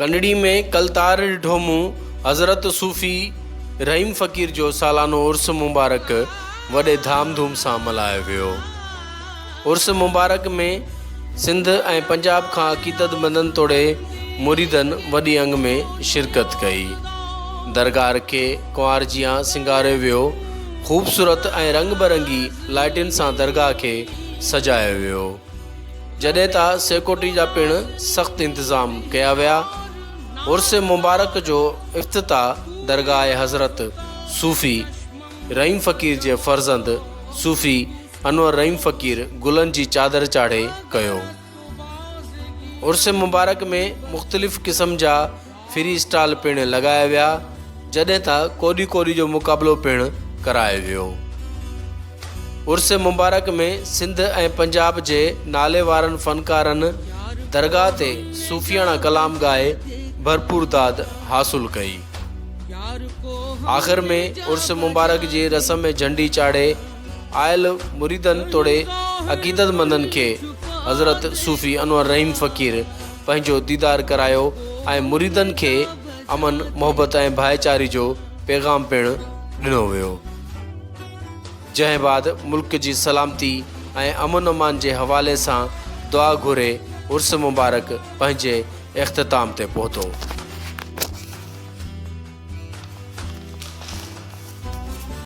ڪنڙي ۾ ڪل تار ڏٺو مون حضرت صوفي رحيم فقير جو سالانو عرس مبارڪ وڏي ڌام ڌوم سان ملهايو ويو. عرس مبارڪ ۾ سنڌ ۽ پنجاب کان عقيدت مندن توڙي مريدن وڏي انگ ۾ شرڪت ڪئي. درگاهه کي ڪنوار جيان سينگاريو ويو. خوبصورت ۽ رنگ برنگي لائٽن سان درگاهه کي سجايو ويو. جڏهن ته سيڪورٽي جا پڻ سخت انتظام ڪيا ويا. عرس مبارڪ جو افتتاح درگاهه حضرت صوفي رحيم فقير جي فرزند صوفي انور رحيم فقير گلن جي چادر چاڙهي ڪيو. عرس مبارڪ ۾ مختلف قسم جا فري اسٽال پڻ لڳايا ويا جڏهن ته ڪوڏي ڪوڏي جو مقابلو پڻ ڪرايو ويو. عرس مبارڪ ۾ سنڌ ۽ پنجاب جي ناليوارن فنڪارن درگاهه تي صوفياڻا ڪلام ڳائي ڀرپور داد حاصل ڪئي. آخر ۾ عرس مبارڪ جي رسم ۾ جهنڊي چاڙهي آيل مريدن توڙي عقيدتمندن کي حضرت صوفي انور رحيم فقير پنهنجو ديدار ڪرايو ۽ مريدن کي امن، محبت ۽ ڀائيچاري جو پيغام پڻ ڏنو ويو. جنهن بعد ملڪ جي سلامتي ۽ امن امان جي حوالي سان دعا گهري عرس مبارڪ پنهنجي اختتام تي پهتو.